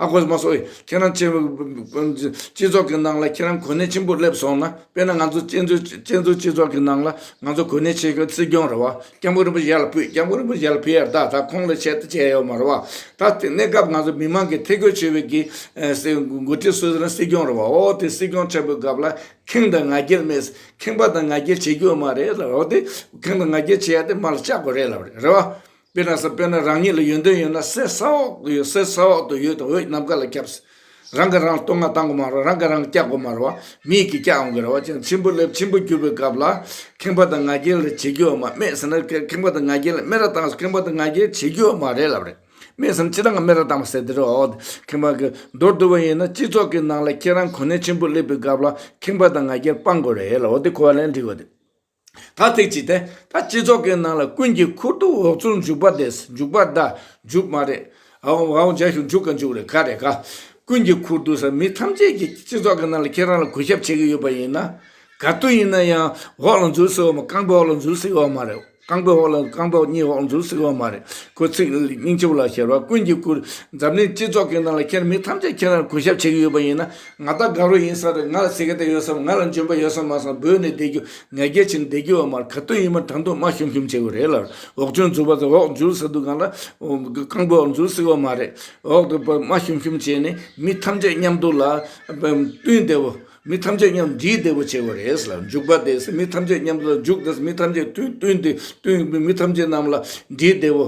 ཨ་ཁོ་མ་སོགས་ཁྱེད་རང་སྤྱི་ཚོགས་ཀྱི་ནང་ལ་ཁྱེད་རང་གོ་གནས་ཆེན་པོ་སླེབས་སོང་ན་དཔེར་ན་ང་ཚོ་གཅན་ཚུན་སྤྱི་ཚོགས་ཀྱི་ནང་ལ་ང་ཚོ་གོ་གནས་ཆེ་གི་སྲིད་སྐྱོང་རེད་བ་སྐྱབས་མགོན་རིན་པོ་ཞལ་བུས་སྐྱབས་མགོན་རིན་པོ་ཞལ་བུས་ཡར་ད་ད་ཁོང་ལ་ཆེད་དུ་བྱས་ཡོད་མ་རེད་བ་ད་དེ་གནས་སྐབས་ང་ཚོ་མི་མང་གི་ཐེ་གོ་ཆོད་བའི་གི་མགོ་ཁྲིད་སུ་རང་སྲིད་སྐྱོང་རེད་བ་འོ་དེ་སྲིད་སྐྱོང་ཆེན་པོའི་སྐབས་ལ་ཁེངས་དང་ང་རྒྱལ་མེད་ཁེངས་པ་དང་ང་རྒྱལ་བྱེད་རྒྱུ་མ་རེད་ལབ་རེད་བ་དེ་ཁེངས་དང་ང་རྒྱལ་བྱེད་ཡ་དེ་མར་ལ་བཅག་གོ་རེད་ལབ་རེད་བ། དཔེར་ན་ས་དཔེར་ན་རང་ཉིད་ལ་ཡོན་ཏན་ཡོད་ན་གསེར་ས་འོག་ཏུ་ཡོད་གསེར་ས་འོག་ཏུ་ཡོད་དང་འོད་ནམ་མཁའ་ལ་ཁྱབ། རང་གིས་རང་སྟོང་ང་བཏང་གོ་མ་རུང་རང་གིས་རང་སྐྱག་གོ་མ་རུང་བ་མིས་ཀྱིས་སྐྱག་འོང་གི་རེད་བ་ཅན་འཆི་འཕོ་སླེབས་འཆི་འཕོ་གྱུར་པའི་སྐབས་ལ་ཁེངས་པ་དང་ང་རྒྱལ་ལ་བྱེད་རྒྱུ་བ་མ་སྨྲས་ཟེར་ན་ཁེངས་པ་དང་ང་རྒྱལ་སྨྲེ་ར་བཏང་ཁེངས་པ་དང་ང་རྒྱལ་བྱེད་རྒྱུ་བ་མ་རེད་ལབ་རེད་སྨྲས་ཟེར་ན་སྤྱིར་ང་སྨྲེ་ར་བཏང་བ་ཟེར་དེ་རེད་བའོ་ཁེངས་པ་གི་མདོར་བསྡུ་བ་ཡིན་ན་སྤྱི་ཚོགས་ཀྱི་ནང་ལ་ཁྱེད་རང་གོ་ནས་འཆི་འཕོ་སླེབས་པའི་སྐབས་ལ་ཁེངས་པ་དང་ང་རྒྱལ་སྤང་དགོས་རེད་ལ་འོ་དེ་གོ་བ་ལེན་འགྲིག་གོ་དེ། ཐ་ཚིག་ཅིག་སྟེ། ད་སྤྱི་ཚོགས་ཀྱི་ནང་ལ་ཀུན་གྱིས་ཁུར་དུ་འོག་ཚུར་འཇུག་པ་དེ་འཇུག་པ་ད་འཇུག་མ་རེད། འོ་འཇའ་ཞུགས་འཇུག་ག་འཇུག་རེད་ག་རེད་ག། ཀུན་གྱིས་ཁུར་དུ་ཟེར་མི་ཐམས་ཅད་ཀྱིས་སྤྱི་ཚོགས་ཀྱི་ནང་ལ་ཁྱེད་རང་ལ་གུས་ཞབས་བྱེད་ཀྱི་ཡོད་པ་ཡིན་ན། ག་དུས་ཡིན་ན་ཡང་འོག་ལ་འཛུལ་སྲིད་འོག་མ་རྐང་པའི་འོག་ལ་འཛུལ་སྲིད་འོག་མ་རེད། རྐང་པའི་འོག་ལ་རྐང་པའི་གཉིས་འོག་ལ་འཛུལ་སྲིད་འོག་མ་རེད། ཁོ་ཚིག་རྙིང་ཆུབ་ལ་ཞེར་བ་ཀུན་གྱིས་ཁུར། འཛམ་གླིང་སྤྱི་ཚོགས་ཀྱི་ནང་ལ་ཁྱེད་མི་ཐམས་ཅད་ཁྱེད་རང་ལ་གུས་ཞབས་བྱེད་ཀྱི་ཡོད་པ་ཡིན་ན། ང་རྟ་སྒང་རུ་ཡིན་ས་རེད་ང་ལ་ཟེ་ག་དེ་ཡོད་སམ་ང་ལ་འཇོན་པ་ཡོད་སམ་མ་གསང་བོད་ནས་བསྡད་རྒྱུ་ང་རྒྱལ་ཆེ་ནས་བསྡད་རྒྱུ་བ་མར་ག་དོན་ཡིན་མ་དྲང་དུ་མ་ཤོམ་ཤོམ་བྱེད་དགོས་རེད་ལར་འོག་ཆུང་འཛུགས་པ་དང་འོག་འཇུར་ས་འདུག་གང་ལ་རྐང་པོ་འོག་འཛུར་སྲིད་བ་མ་རེད་འོག་ཏུ་མ་ཤོམ་ཤོམ་བྱེད་ནས་མི་ཐམས་ཅད་མཉམ་འདུག་ལ་བསྟུན་བསྡད་བོ་མི་ཐམས་ཅད་མཉམ་འདྲིས་བསྡད་བོ་བྱེད་དགོས་རེད་ལར་འཇུག་པ་དེ་མི་ཐམས་ཅད་མཉམ་དུ་ལ་འཇུག་དེ་མི་ཐམས་ཅད་བསྟུན་བསྟུན་བསྟུན་མི་ཐམས་ཅད་རྣམས་ལ་འདྲིས་བསྡད་བོ།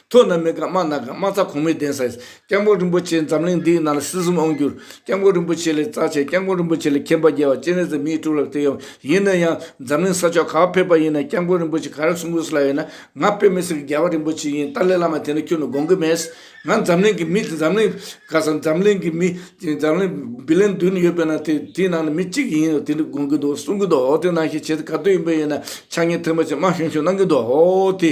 ཐུགས་ན་མི་དགའ་སྨྲ་ན་དགའ་སྨྲ་རྩ་གོང་མའི་གདན་ས་ཡིན། སྐྱབས་མགོན་རིན་པོ་ཆེ་འཛམ་གླིང་འདིའི་ནང་ལ་སྲིད་གསུམ་དབང་བསྒྱུར། སྐྱབས་མགོན་རིན་པོ་ཆེ་ལས་རྩ་ཆེ་སྐྱབས་མགོན་རིན་པོ་ཆེ་ལས་མཁྱེན་པ་རྒྱལ་བ་སྤྱན་རས་གཟིགས་མིའི་སྤྲུལ་ལགས་དེ་ཡོད། ཡིན་ན་ཡང་འཛམ་གླིང་ས་ཕྱོགས་ག་བ་ཕེབས་པ་ཡིན་ན་སྐྱབས་མགོན་རིན་པོ་ཆེ་ག་རེ་གསུང་གི་སུ་ལ་ཡོད་ན་ང་དཔེ་མི་སྲིད་གི་རྒྱལ་བ་རིན་པོ་ཆེ་ཡིན་ཏཱ་ལའི་བླ་མ་དེ་འདྲ་ཁྱོད་ནས་དགོངས་གི་མེད། ང་འཛམ་གླིང་གི་མི་འཛམ་གླིང་ག་ས་འཛམ་གླིང་གི་མི་འཛམ་གླིང་བི་ལན་བདུན་ཡོད་པའི་ནང་དེ་དེའི་ནང་ནས་མི་གཅིག་ཡིན་ཡོད་དེ་འདྲ་དགོངས་གི་འདུག་གསུང་གི་འདུག་དེ་ནང་བཞིན་བྱེད་ག་དུས་ཡིན་པ་ཡིན་ན་ཆ་ངས་ཐེངས་པ་ཆེ་མང་བྱུང་བྱུང་གནང་གི་འདུག་དེ།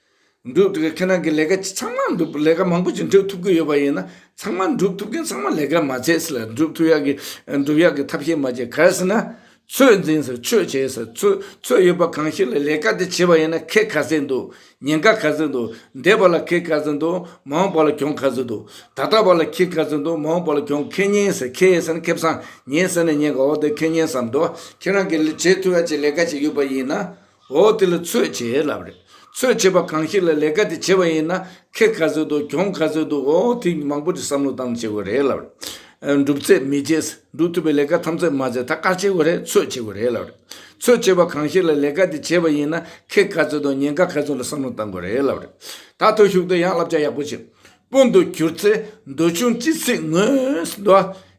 འགྲུབ་འདུག་ཁྱེད་རང་གི་ལས་ཀ་ཅི་ཚང་མ་འགྲུབ་ལས་ཀ་མང་པོ་ཅི་འགྲུབ་ཐུབ་ཀྱི་ཡོད་པ་ཡིན་ན་ཚང་མ་འགྲུབ་ཐུབ་མཁན་ཚང་མ་ལས་ཀ་མ་བྱས་སེ་ལ་འགྲུབ་ཐུབ་ཡག་གི་འགྲུབ་ཡག་གི་ཐབས་ཤེས་མ་བྱས་གལ་སྲིད་ན་ཚོད་འཛིན་སེ་ཚོད་བྱས་སེ་ཚོད་ཚོད་ཡོད་པ་གང་ཞིག་ལ་ལས་ཀ་དེ་བྱས་པ་ཡིན་ན་ཁེ་ག་ཚད་འདུག་ཉེན་ཁ་ག་ཚད་འདུག་འདས་པ་ལ་ཁེ་ག་ཚད་འདུག་མ་འོངས་པ་ལ་གྱོང་ག་ཚད་འདུག་ད་ལྟ་བ་ལ་ཁེ་ག་ཚད་འདུག་མ་འོངས་པ་ལ་གྱོང་ཁེ་ཉེན་སེ་ཁེ་ཡས་སེ་ན་ཁེ་བཟང་ཉེན་སེ་ན་ཉེན་ག་འོ་དེ་ཁེ་ཉེན་བསམ་འདུག་ཁྱེད་རང་གི་ལས་བྱས་ཐུབ་ཡག་ཅིག་ལས་ཀ་ཅིག་ཡོད་པ་ཡིན་ན་འོ་དེ་ལ་ཚོད་བྱེད་ཡས་ལབ་རེད། ཚོད་བྱེད་པ་གང་ཞིག་ལ་ལས་ཀ་དེ་བྱེད་པ་ཡིན་ན་ཁེ་ག་ཚོད་འདུག་གྱོང་ག་ཚོད་འདུག་འོ་དེ་མང་པོ་དེ་བསམ་བློ་བཏང་ནས་བྱེད་དགོས་རེད་ལབ་རེད། འགྲུབ་ཚད་མི་བྱེད། འགྲུབ་ཐུབ་པའི་ལས་ཀ་ཐམས་ཅད་མ་བྱས་ད་དཀར་བྱེད་དགོས་རེད་ཚོད་བྱེད་དགོས་རེད་ལབ་རེད། ཚོད་བྱེད་པ་གང་ཞིག་ལ་ལས་ཀ་དེ་བྱེད་པ་ཡིན་ན་ཁེ་ག་ཚོད་འདུག་ཉེན་ཁ་ག་ཚོད་འདུག་བསམ་བློ་བཏང་དགོས་རེད་ལབ་རེད། ད་ཐོ་ཞུགས་དུ་ཡང་བསླབ་བྱ་ཡག་པོ་བྱེད། སྤུན་དུ་གྱུར་ཚེ་འདོད་ཆུང་ཅི་སྲིད་ངོས་འདོད།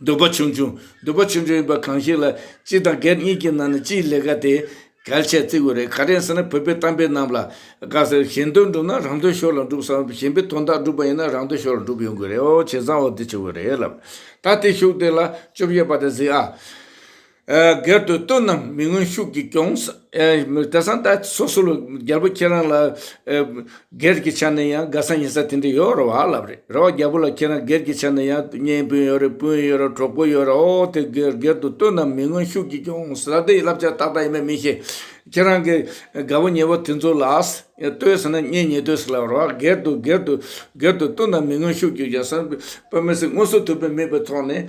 འདོད་པ་ཆུང་ཆུང། འདོད་པ་ཆུང་ཆུང་ཡིན་པ་གང་ཞིག་ལ། སྤྱི་དང་སྒེར་གཉིས་ཀྱི་ནང་ནས་སྤྱིའི་ལས་ཀ་དེ། གལ་ཆེར་བརྩི་དགོས་རེད། ག་རེ་ཟེར་ན་བོད་པའི་གཏམ་དཔེ་རྣམས་ལ། དགའ་ཟེར་གཞན་དོན་བསྒྲུབ་ན་རང་དོན་ཤོར་ལ་འགྲུབ་བསམ། གཞན་པའི་དོན་དག་བསྒྲུབ་པ་ཡིན་ན་རང་དོན་ཤོར་ལ་འགྲུབ་ཡོང་དགོས་རེད། བྱས་ཙང་འོ་དེ་བྱེད་དགོས་རེད་ལབ། ད་དེ་ཤུགས་དེ་ལ་བཅོ་བརྒྱད་པ་དེ་གཟིགས་ཨ། སྒེར་དུ་བཏོན་ནམ་མི་དངོས་ཤུགས་ཀྱིས་སྐྱོང། སྐལ་བཟང་ད་སོ་སོ་ལ་རྒྱལ་པོ་ཁྱེད་རང་ལ། སྒེར་གྱི་ཆ་ནས་ཡང་དགའ་ས་ཉེ་ས་དེ་འདྲ་ཡོད་རེད་བ་ལབ་རེད་རེད་བ་རྒྱལ་པོ་ལ་ཁྱེད་རང་སྒེར་གྱི་ཆ་ནས་ཡང་གཉེན་སྤུན་ཡོད་རེད་སྤུན་ཡོད་རེད་གྲོགས་པོ་ཡོད་རེད་ཨོ་དེ་སྒེར་དུ་བཏོན་ནམ་མི་དངོས་ཤུགས་ཀྱིས་སྐྱོང་ཟེར་ན་དེ་བསླབ་བྱ་ཏག་ཏག་ཡིན་པ་མི་ཤེས། ཁྱེད་རང་གི་དགའ་བོ་ཉེ་བོ་དེ་ཚོ་ལ་ལྟོས་ཟེར་ན་གཉེན་ཉེ་ལྟོས་ཟེར་ལབ་རེད་བ་སྒེར་དུ་སྒེར་དུ་སྒེར་དུ་བཏོན་ནམ་མི་དངོས་ཤུགས་ཀྱིས་སྐྱོང་ཟེར་ན་དཔེ་མི་སྲིད་དངོས་སུ་ཐུབ་པའི་མིད་པའི་ཐོག་ནས།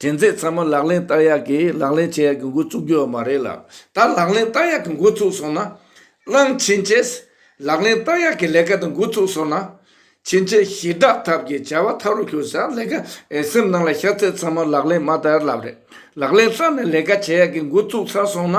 དྲན་ཚད་ཚང་མ་ལག་ལེན་བསྟར་ཡག་གིས་ལག་ལེན་བྱེད་ཡག་གི་འགོ་བཙུགས་རྒྱུ་ཡོད་མ་རེད་ལ། ད་ལག་ལེན་བསྟར་ཡག་གི་འགོ་བཙུགས་སོང་ན། གླང་ཆེན་བཅས་ལག་ལེན་བསྟར་ཡག་གི་ལས་ཀ་དེ་འགོ་བཙུགས་སོང་ན། ཕྱིན་ཆད་ཞི་དྲག་ཐབས་ཀྱི་བྱ་བ་ཐབས་རུ་ཞུགས་ས་ལས་ཀ་འི་སེམས་ནང་ལ་ཤར་ཚད་ཚང་མ་ལག་ལེན་མ་བསྟར་ལབ་རེད། ལག་ལེན་བསྟར་ནས་ལས་ཀ་བྱེད་ཡག་གི་འགོ་བཙུགས་ཚར་སོང་ན།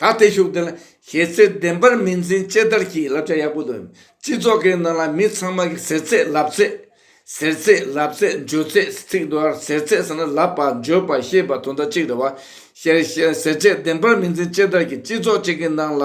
ད་ལྟའི་ཤུགས་ལྡན་ལ་གཞས་ཚིག་བདེན་པར་མི་འཛིན་དཔྱད་བརྡར་གྱིས་བསླབ་བྱ་ཡག་པོ་འདོན། སྤྱི་ཚོགས་ཀྱི་ནང་ལ་མི་ཚང་མ་གིས་ཟེར་ཚད་ལབ་ཚད། ཟེར་ཚད་ལབ་ཚད་འཇོལ་ཚད་ཚིག་འདུལ་བར་ཟེར་ཚད་ཟེར་ན་ལབ་པ་འཇོལ་པ་ཤེས་པ་དོན་དག་གཅིག་རེད་བ། ཞེས་ཟེར་བྱས་བདེན་པར་མི་འཛིན་དཔྱད་བརྡར་གྱིས་སྤྱི་ཚོགས་གཅིག་གི་ནང་ལ་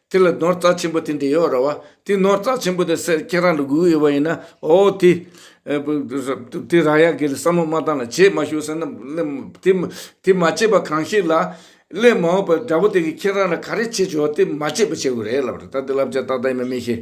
དེ་ལ་ནོར་རྩ་ཆེན་པོ་དེ་འདི་ཡོད་ར་བ། དེ་ནོར་རྩ་ཆེན་པོ་དེ་སེར་ཁྱེད་རང་ལ་དགོས་ཡོད་པ་ཡིན་ན་ཨོ་དེ། དེ་ར་ཡག་གི་ལ་བསམ་བློ་མ་བཏང་ལ་བྱེད་མ་ཞུ་ཟེར་ན། དེ་མ་བྱེད་པ་གང་ཞིག་ལ། སླད་མ་འོངས་པར་དགྲ་བོ་དེ་གིས་ཁྱེད་རང་ལ་ག་རེ་བྱེད་ཆོག་དེ་མ་བྱེད་པ་བྱེད་དགོས་རེད་ལབ་རེད་ད་དེ་ལབ་བྱ་ཏག་ཏག་ཡིན་པ་མི་ཤེས།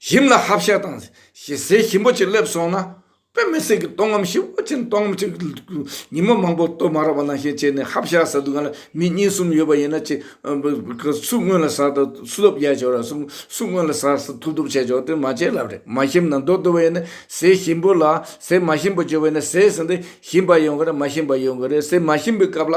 ཞིམ་ལ་ཧབ་ཤ་དང་ཞེ་སའི་ཞིམ་པོ་ཅིག་སླེབས་སོང་ན། དཔེ་མི་སྲིད་ཀྱི་སྟོང་ངམ་ཤི་བོ་ཅན་སྟོང་ངམ་ཅིག་ཉིན་མོ་མང་པོ་སྟོད་མ་ར་བ་ནང་བཞིན་བྱས་ནས་ཧབ་ཤ་ཟ་དུས་གང་ལ་མི་གཉིས་གསུམ་ཡོད་པ་ཡིན་ན་ཅིག་སུ་སྔོན་ལ་ཟ་ཐུབ་ཐུབ་བྱས་ཆོག་ར་སུ་སྔོན་ལ་ཟ་ཐུབ་ཐུབ་བྱས་ཆོག་དེ་མ་བྱས་ལབ་རེད་མ་ཞིམ་ན་མདོག་སྟོད་པ་ཡིན་ན་ཟས་ཞིམ་པོ་ལ་ཟས་མ་ཞིམ་པོ་བྱོས་པ་ཡིན་ན་ཟས་ཟིན་དུས་ཞིམ་པ་ཡོང་གི་རེད་མ་ཞིམ་པ་ཡོང་གི་རེད་ཟས་མ་ཞིམ་པའི་སྐབས་ལ།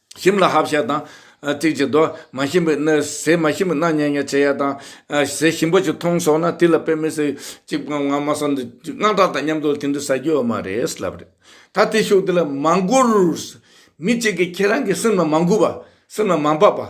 ཞིམ་ལ་ཧབ་བཤལ་དང། ཐིག་གཅིག་རྡོ། མ་ཞིམ་པོའི་སྣོད། ཟས་མ་ཞིམ་པོའི་སྣ་ཉལ་ཉལ་བྱེད་ཡ་དང། ཟས་ཞིམ་པོ་ཅིག་མཐོང་སོང་ན་དེ་ལ་དཔེ་མི་སྲིད། ཅིག་པའང་ང་མ་སོང་འདུག་ཅིག་དངངས་སྐྲག་དང་མཉམ་དུ་དེ་འདྲ་ཟ་རྒྱུ་ཡོད་མ་རེད་ལབ་རེད། ད་དེ་ཤུགས་དེ་ལ་མ་འགུར། མི་གཅིག་གིས་ཁྱེད་རང་གི་སེམས་ལ་མ་འགུལ་བ། སེམས་ལ་མ་འབབ་པ།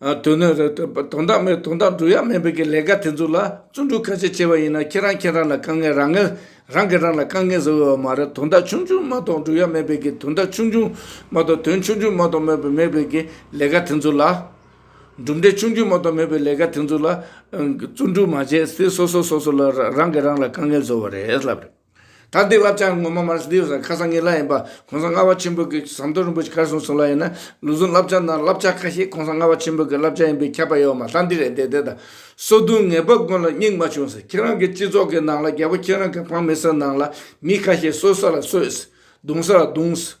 དོན་ནི། དོན་དག་མེད་དོན་དག་བསྒྲུབ་ཡ་མེད་པའི་ལས་ཀ་དེ་ཚོ་ལ་བརྩོན་འགྲུས་ཁ་ཤས་ཆེ་བ་ཡིན་ན་ཁྱེད་རང་ཁྱེད་རང་ལ་དཀའ་ངལ་རང་ངལ་རང་གིས་རང་ལ་དཀའ་ངལ་བཟོ་འོས་པ་མ་རེད་དོན་དག་ཆུང་ཆུང་མ་གཏོགས་བསྒྲུབ་ཡ་མེད་པའི་དོན་དག་ཆུང་ཆུང་མ་གཏོགས་དོན་ཆུང་ཆུང་མ་གཏོགས་མེད་པའི་མེད་པའི་གི་ལས་ཀ་དེ་ཚོ་ལ། གྲུབ་འབྲས་ཆུང་ཆུང་མ་གཏོགས་མེད་པའི་ལས་ཀ་དེ་ཚོ་ལ་བརྩོན་འགྲུས་མ་བྱས་ཚེ་སོ་སོ་སོ་སོ་ལ་རང་གིས་རང་ལ་དཀའ་ངལ་བཟོ་བ་རེད་ལབ་རེད། ད་ལྟའི་བབ་ཆགས་ངོ་མ་མར་སི་ཏིའུ་སར་ཁ་སང་ངེད་ལ་ཡིན་པ ྋགོང་ས་ལྔ་བ་ཆེན་པོ་གིས་ཟམ་གདོང་རིན་པོ་ཆེ་གར་སོང་ཟེར་ལ་ཡིན་ན་ལུས་ཟུངས་བསླབ་བྱ་ནང་བསླབ་བྱ་ཁ་ཤས ྋགོང་ས་ལྔ་བ་ཆེན་པོ་གི་བསླབ་བྱ་ཡིན་པས་ཁྱབ་པ་ཡོད་མ་ལྷ་འདི་རེད་འདི་རེད་ད་སོ་བདུན་ངེད་པ་ཀུན་ལ་སྙིང་མ་ཕྱུང་ཟེར་ཁྱེད་རང་གི་སྤྱི་ཚོགས་ཀྱི་ནང་ལ་རྒྱལ་པོ་ཁྱེད་རང་གི་ཕང་མི་སེར་ནང་ལ་མི་ཁ་ཤས་གསོད་ས་ལ་གསོད་ཟེར་རྡུང་ས་ལ་རྡུང་ཟེར།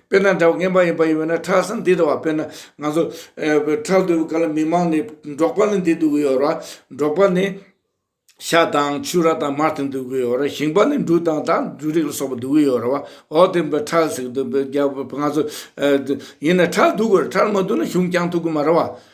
དཔེར་ན་འདྲ་བ་ངན་པ་ཡིན་པ་ཡིན་བས་ན་ཁྲག་ཟ་འདི་འདྲ་བ་དཔེར་ན་ང་ཚོ་ཁྲག་འདུས་པའི་སྐབས་ལ་མི་མང་ནས་འབྲོག་པ་ནི་འདི་འདུག་གི་ཡོད་ར་འབྲོག་པ་ནི་ཤ་དང་ཕྱུ་ར་དང་མར་དེ་འདུག་གི་ཡོད་ར་ཞིང་པ་ནི་འབྲུ་དང་དག་འབྲུ་རིགས་ལ་སོགས་པ་འདུག་གི་ཡོད་ར་བ་འོ་དེ་འབའ་ཁྲག་ཟིག་འདུག་པས་རྒྱ་བོད་ང་ཚོ་ཡིན་ན་ཁྲག་འདུག་གི་ར་ཁྲག་མ་འདུག་ན་གཞུང་བསྐྱང་ཐུབ་གི་མ་ར་བ།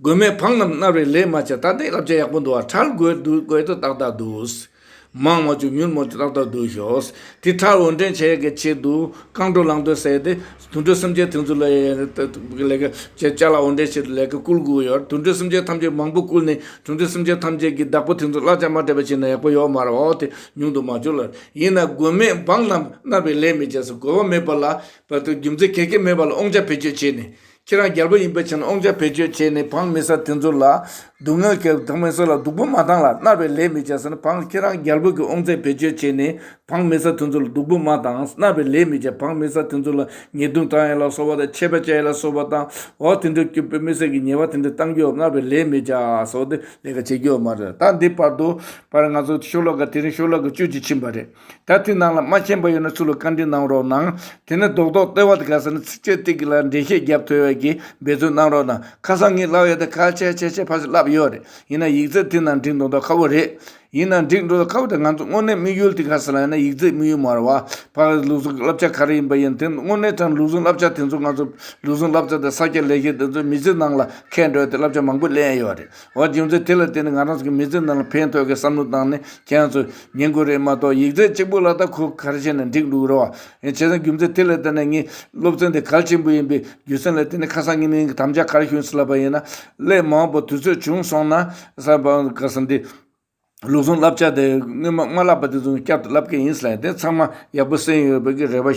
དགོས་མེད་འཕང་རྣམས་མནར་བའི་ལས་མ་བྱ་ད་ལྟའི་བསླབ་བྱ་ཡག་པོ་འདུག་བ་ཁྲལ་དགོས་དུས་དགོས་དུས་ཏག་ཏག་འདུག། མང་མ་བྱུང་མྱུར་མོ་ཏག་ཏག་འདུག་ཤོག། དེ་ཁྲལ་འོས་འགྲན་བྱེད་དགོས་ཆེད་དུ་རྐང་བྲོ་ལང་བྲོ་བསད་དེ། དུད་འགྲོ་སེམས་ཅན་ཐེངས་ཚུར་ལ་ཡ་ཡ་ཐུག་ཐུག་ལས་ཀ་བྱེད་བཅའ་ལ་འོས་འགྲན་བྱེད་དུ་ལས་ཀ་བསྐུལ་དགོས་ཡོད་དུད་འགྲོ་སེམས་ཅན་ཐམས་ཅད་མང་པོ་བསྐུལ་ནས་དུད་འགྲོ་སེམས་ཅན་ཐམས་ཅད་ཀྱི་བདག་པོ་ཐེངས་ཚུར་གླ་ཆ་མ་སྤྲད་པ་བྱས་ན་ཡག་པོ་ཡོད་མ་རེད་འོ་དེ་ཉུང་དུ་མ་བྱུང་ལ། ཡིན་ན་དགོས་མེད་འཕང་རྣམས་མནར་བའི་ལས་མི་བྱ་ས་གོ་བ་མེད་པ་ལ། རྒྱུ་མཚན་གལ་ཆེན་མེད་པ་ལ་དབང་ཆ་བེད་སྤྱོད་བྱས་ནས། ཁྱེད་རང་རྒྱལ་པོ་ཡིན་པའི་ཕྱིར་ཨོང་ཅག་བེད་སྤྱོད་བྱས་ནས་བང་མི་ཟ་དེ་ཚོ་ལ་སྡུག་བསྔལ་སྐྱེལ་བང་མི་ཟ་ལ་སྡུག་པོ་མ་བཏང་ལ་མནར་བའི་ལས་མི་བྱ་ཟེར་ན་བང་ཁྱེད་རང་རྒྱལ་པོ་གིས་ཨོང་ཙེ་བེད་སྤྱོད་བྱས་ནས་བང་མི་ཟ་དེ་ཚོ་ལ་སྡུག་པོ་མ་བཏང་མནར་བའི་ལས་མི་བྱ་བང་མི་ཟ་དེ་ཚོ་ལ་ཉེས་རྡུང་བཏང་ཡ་ལ་སོགས་པ་དང་ཆད་པ་བཅད་ཡ་ལ་སོགས་པ་བཏང་འོག་དེ་འདྲའི་སྐྱུར་པོའི་མི་སེར་གྱི་ཉེས་བ་དེ་འདྲ་བཏང་རྒྱུའོ་མནར་བའི་ལས་མི་བྱ་སོགས་ཏེ་ལས་ཀ་བྱེད་རྒྱུའོ་མ་རེད་ད་འདི་བར་དུ་བར་ང་ཚོ་ཤོ་ལོ་ཀ་དེ་རིང་ཤོ་ལོ་ཀ་བཅུ་གཅིག་ཕྱིན་པ་རེད། ད་ཚིག་ནང་ལ་མ་ཤེས་པ་ཡོད་ན་ཚུར་ལ་བཀའ་འདྲི་གནང་རོགས་གནང། དེ་ནས་རྡོག་རྡོག་སྟོད་བར་དུ་དགའ་ས་ནས་ཚིག་བཅད་ཏིག་གི་ལ་འགྲེལ་བཤད་བརྒྱབ་ཐོས་བས་ཀྱིས་འབད་རྩོལ་གནང་རོགས་གནང། ཁ་སང་ངས་བསླབ་ཡོད་དེ་ཁ་ཆེ་ཆེ་ཆེ་ཕར་ཟིག་བསླབ་ཡོད་རེད། ཡིན་ན་ཡིག་རྩལ་དེ་ནང་འགྲིག་འགྲོ་ད་ཁ་བོ་རེད། ཡིན་ན་འགྲིག་འགྲོ་ད་ཁ་བོ་དེ་ང་ཚོ་དངོས་གནས་དམིགས་ཡུལ་དེ་ག་ཟེར་ན་ཡིན་ན་ཡིག་རྩལ་དམིགས་ཡུལ་མར་བ་ཕར་ཟིག་ལུགས་ཟུང་བསླབ་བྱ་ག་རེ་ཡིན་པ་ཡིན་དེ་དངོས་གནས་ཀྱང་ལུགས་ཟུང་བསླབ་བྱ་དེ་ཚོ་ང་ཚོ་ལུགས་ཟུང་བསླབ་བྱ་དེ་ས་སྐྱ་ལས་བྱེད་དེ་ཚོས་མི་ཚེ་ནང་ལ་ཁེལ་འགྲོ་ཡོད་དེ་བསླབ་བྱ་མང་པོ་གླེང་ཡོད་རེད། འོ་རྒྱུ་མཚན་དེ་ལ་བརྟེན་ནས་ང་རང་ཚོ་གི་མི་ཚེ་ནང་ལ་ཕན་ཐོག་གི་བསམ་བློ་བཏང་ནས་ཁྱེད་རང་ཚོས་ཉན་དགོས་རེད་མ་གཏོགས་ཡིག་ཚད་གཅིག་པོ་ལ་ད་ཁོ་གར་བྱས་ནས་འགྲིག་འདུག་རེད་བ། བྱས་ཙང་རྒྱུ་མཚན་དེ་ལ་བརྟེན་ནས་ངས་སློབ་ཚན་དེ་གལ་ཆེན་པོ་ཡིན་པའི་རྒྱུ་མཚན་ལ་བརྟེན་ནས་ཁ་སང་ཉིན་ངས་དམ་བཅའ་གར་ཞུས་ལབ་པ་ཡིན་ན། སླད་མང་པོ་དུས་ཚོད་བྱུང་སོང་ན་གསར་པ་ག་ས་འདི་ལུགས་ཟུང་བསླབ་བྱ་དེ་སྔོན་མ་མ་བསླབ་པ་དེ་ཚོ་བསྐྱར་དུ་བསླབ་མཁན་ཡིན་ས་ལ་དེ་ཚང་མ་ཡག་པོ་གསན་ཡོད་པའི་རེ་བ།